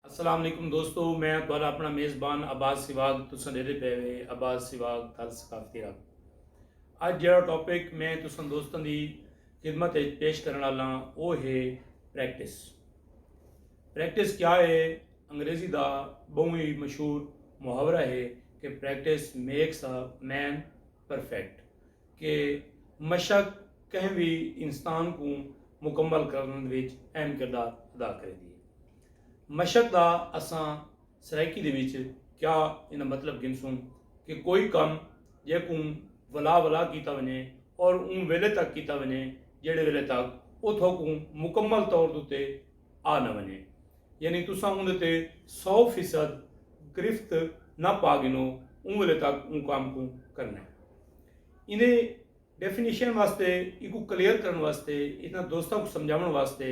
السلام علیکم دوستو میں تہاڈا اپنا میزبان عباس سواگ تساں ڈیدے پے وے عباس سواگ تھل ثقافتی رب اج جڑا ٹاپک میں تساں دوستاں دی خدمت وچ پیش کرن والا او ہے پریکٹس پریکٹس کیا ہے انگریزی دا بہوں ہی مشہور محاورہ ہے کہ practice makes a man perfect کہ مشق کہیں وی انسان کوں مکمل کرنڑ وچ اہم کردار ادا کریندی ہے۔ مشق دا اساں سرائیکی دے وچ کیا ایندا مطلب گھنسوں کہ کوئی کم جیکوں ولا ولا کیتا ونجے اور اوں ویلے تک کیتا ونجے جیڑھے ویلے تک اتھوں کوں مکمل طور تے آ نہ ونجے۔ یعنی تساں اوندے تے سو فیصد گرفت نہ پا گھنو اوں ویلے تک اوں کام کوں کرنے۔ ایندے ڈیفینیشن واسطے ایکوں کلیئر کرن واسطے اتنا دوستاں کوں سمجھاون واسطے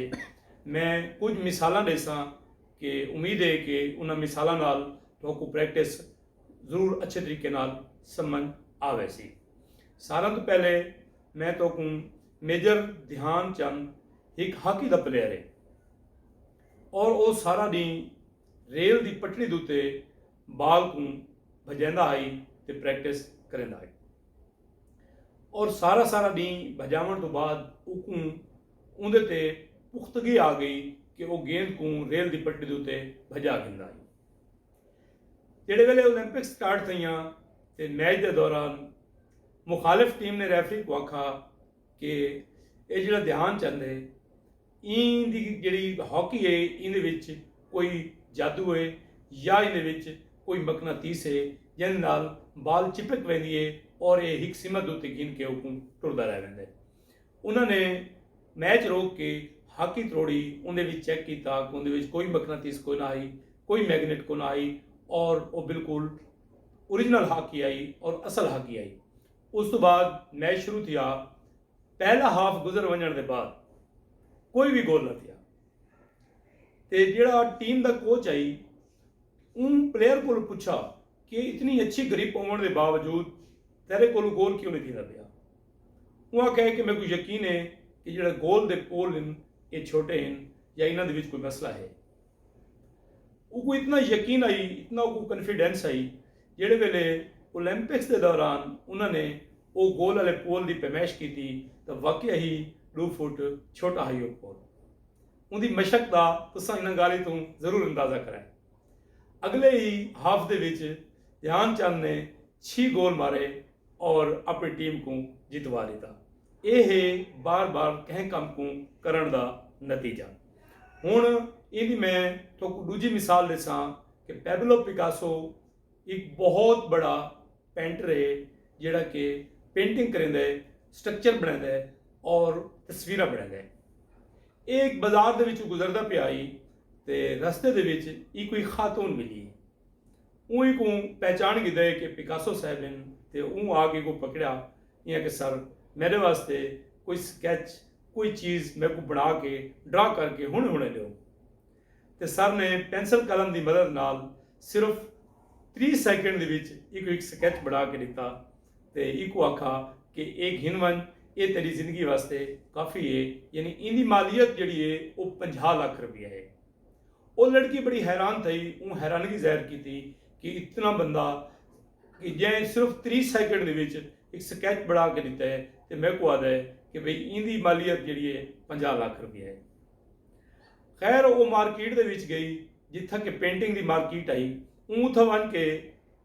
میں کچھ مثالاں ڈیساں کہ امید ہے کہ انہاں مثالاں نال تہاکوں پریکٹس ضرور اچھے طریقے نال سمجھ آ ویسی۔ ساراں توں پہلے میں تہاکوں میجر دھیان چند ہک ہاکی دا پلیئر ہے۔ اور او سارا ڈینہہ ریل دی پٹڑی دتے بال کوں بھجیندا ہئی تے پریکٹس کریندا ہئی۔ اور سارا سارا ڈینہہ بھجاون توں بعد اوکوں اوندے تے پختگی آ گئی کہ او گیند کوں ریل دی پٹڑی دتے بھجا گھندا ہئی۔ جیڑھے ویلے اولمپکس سٹارٹ تھئیاں تے میچ دے دوران مخالف ٹیم نے ریفری کوں آکھا کہ اے جیڑھا دھیان چند ہے ایں دی جیڑھی ہاکی ہے ایندے وچ کوئی جادو ہے یا ایندے وچ کوئی مقناطیس ہے جیندے نال بال چپک ویندی ہے اور اے ہک سمت دے اتے گھن کے اوکوں ٹردا رہ ویندا ہے۔ انہاں نے میچ روک کے ہاکی تروڑی اوندے وچ چیک کیتا کہ اوندے وچ کوئی مقناطیس کوئنا ہئی کوئی میگنیٹ کوئنا ہئی اور او بالکل اوریجنل ہاکی ہئی اور اصل ہاکی ہئی۔ اس توں بعد میچ شروع تھیا۔ پہلا ہاف گزر ونجنڑ دے بعد کوئی وی گول نہ تھیا تے جیڑھا ٹیم دا کوچ ہئی اوں پلیئر کولوں پچھا کہ اتنی اچھی گرپ ہوونڑ دے باوجود تیرے کولوں گول کیوں نی تھیندا پیا اوں آکھیا ہے کہ میکوں یقین ہے کہ جیڑھا گول دے پول ہن اے چھوٹے ہن یا انہاں دے وچ کوئی مسئلہ ہے اوکوں اتنا یقین ہئی اتنا اوکوں کنفیڈنس ہئی جیڑھے ویلے اولمپکس دے دوران انہاں نے او گول آلے پول دی پیمائش کیتی تاں واقعہ ہی ڈو فٹ چھوٹا ہئی او پول اوندی مشق دا تساں انہاں گالھیں توں ضرور اندازہ کرائے اگلے ہی ہاف دے وچ دھیان چند نے چھی گول مارے اور اپنی ٹیم کوں جتوا ڈیتا اے ہے بار بار کہیں کم کوں کرن دا نتیجہ ہن ایندی میں تھوکوں ڈوجھی مثال ڈیساں کہ پیبلو پیکاسو ہک بہت بڑا پینٹر ہے جیڑا کہ پینٹنگ کریندے ہے سٹرکچر بنیندے ہے اور تصویرہ بنیندے ہے ایک بازار دے وچوں گزردہ پہ آئی تے رستے دے وچ ای کوئی خاتون ملی اون کو پہچان گی دے کہ پیکاسو صاحب ہیں تے اون آگے کو پکڑیا یا کہ سر میرے واسطے کوئی سکیچ کوئی چیز میں کو بنا کے ڈرا کر کے ہن ہونے دیو تے سر نے پینسل قلم دی مدد نال صرف تریہہ سیکنڈ دے وچ ایکوں ہک سکیچ بݨا کے ݙتا تے ایکوں آکھا کہ اے گھن ونڄ اے تیݙی زندگی واسطے کافی اے یعنی ایندی مالیت جیڑھی اے او پنجاہ لکھ روپیہ اے او لڑکی بڑی حیران تھئی اوں حیرانگی ظاہر کیتی کہ اتنا بندہ کہ جئیں صرف تریہہ سیکنڈ دے وچ ہک سکیچ بݨا کے ݙتا اے تے میکوں آہدا اے کہ بھئی ایندی مالیت جیڑھی اے پنجاہ لکھ روپیہ اے۔ خیر او مارکیٹ دے وچ گئی جتھاں کہ پینٹنگ دی مارکیٹ ہئی اوں اتھاں ونج کے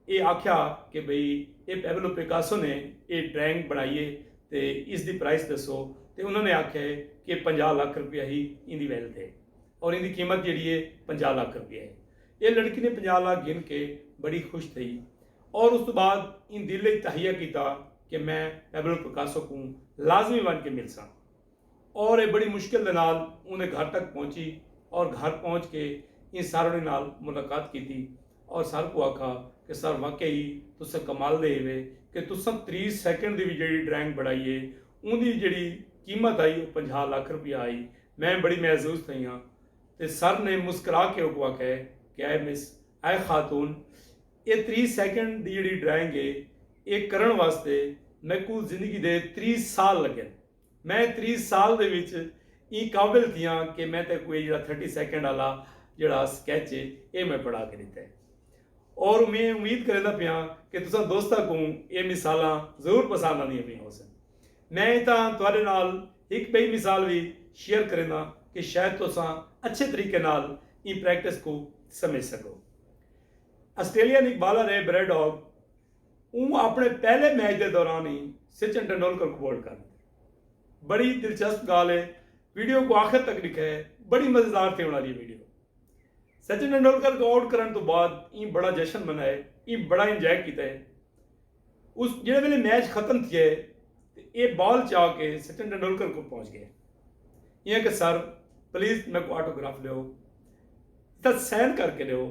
اے آکھیا کہ بھئی اے پیبلو پیکاسو نے اے ڈرائنگ بنڑائی اے تے اس دی پرائس دسو تے انہاں نے آکھیا اے کہ پنجاہ لکھ روپیہ ہی ایندی ویلتھ اے اور ایندی قیمت جیڑھی اے پنجاہ لکھ روپیہ اے اے لڑکی نے پنجاہ لکھ گھن کے بڑی خوش تھئی اور اس توں بعد ایں دل اچ تہیہ کیتا کہ میں پیبلو پیکاسو کوں لازمی ونج کے ملساں۔ اور ایہ بڑی مشکل دے نال اوندے گھر تک پہنچی اور گھر پہنچ کے ایں ساروڑی نال ملاقات کیتی اور سر کوں آکھا کہ سر واقعی ای تساں کمال دے ہیوے کہ تساں تریس سیکنڈ دی وی جیڑھی ڈرائنگ بنڑائی اے اوندی جیڑھی قیمت ہئی او پنجاہ لکھ روپیہ ہئی میں بڑی معزوز تھئی آں تے سر نے مسکرا کے اوکوں آکھا اے کہ اے مس اے خاتون اے تریس سیکنڈ دی جیڑھی ڈرائنگ اے اے کرنڑ واسطے میکوں زندگی دے تریس سال لگن۔ میں تریس سال دے وچ ایں قابل تھیاں کہ میں تیکوں اے جیڑھا تھرٹی سیکنڈ آلا جیڑھا سکیچ ہے اے میں پڑھا کے ڈتا ہے اور میں امید کریندا پیاں کہ تساں دوستاں کوں اے مثالاں ضرور پسند آندیاں پیاں ہوسن میں اتھاں تہاڈے نال ہک بئی مثال وی شیئر کریندا کہ شاید تساں اچھے طریقے نال ایں پریکٹس کوں سمجھ سکو آسٹریلین ہک بالر ہے بریڈ ہاگ اوں اپݨے پہلے میچ دے دوران ہی سچن ٹنڈولکر کوں بولڈ کر ݙتے۔ بڑی دلچسپ گالھ ہے ویڈیو کوں آخر تک ݙکھئے بڑی مزیدار تھیوݨ آلی ہے ویڈیو۔ سچن ٹنڈولکر کوں آؤٹ کرݨ توں بعد ایں بڑا جشن منائے ایں بڑا انجوائے کیتے اس جیڑھے ویلے میچ ختم تھیے تے ایہ بال چا کے سچن ٹنڈولکر کول پہنچ گئے ایاں کہ سر پلیز میکوں آٹو گراف ݙیو تاں سائن کر کے ݙیو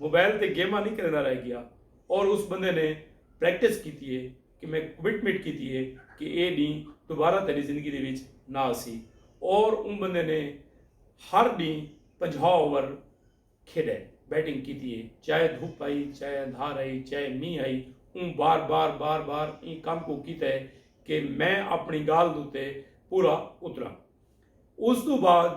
موبائل تے گیماں نی کھیلندا رہ گیا اور اس بندے نے پریکٹس کیتی ہے کہ میں کمٹمنٹ کیتی ہے کہ اے ڈینہہ دوبارہ تیڈی زندگی دے وچ نہ آسی اور اوں بندے نے ہر ڈینہہ پنجاہ اوور کھیڈے بیٹنگ کیتی ہے چاہے دھپ ہئی چاہے اندھار ہئی چاہے مینہہ ہئی اوں بار بار بار بار ایں کم کوں کیتا ہے کہ میں اپنی گالھ دے اتے پورا اتراں اس توں بعد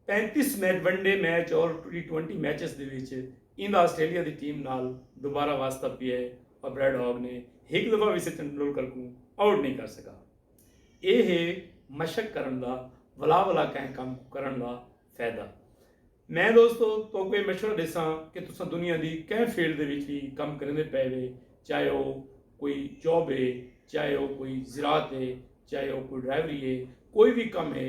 پینتیس میچ ون ڈے میچ اور ٹی ٹوئنٹی میچز دے وچ ایندا آسٹریلیا دی ٹیم نال دوبارہ واسطہ پیا ہے پر بریڈ ہاگ نے ہک دفعہ وی سچن ٹنڈولکر کوں آؤٹ نئیں کر سگا۔ ایہ ہے مشق کرݨ دا ولا ولا کہیں کم کوں کرݨ دا فیدہ۔ میں دوستو توکوں ایہ مشورہ ڈیساں کہ تساں دنیا دی کہیں فیلڈ دے وچ وی کم کریندے پئے وے چاہے او کوئی جاب ہے چاہے او کوئی زراعت ہے چاہے او کوئی ڈرائیوری ہے کوئی وی کم ہے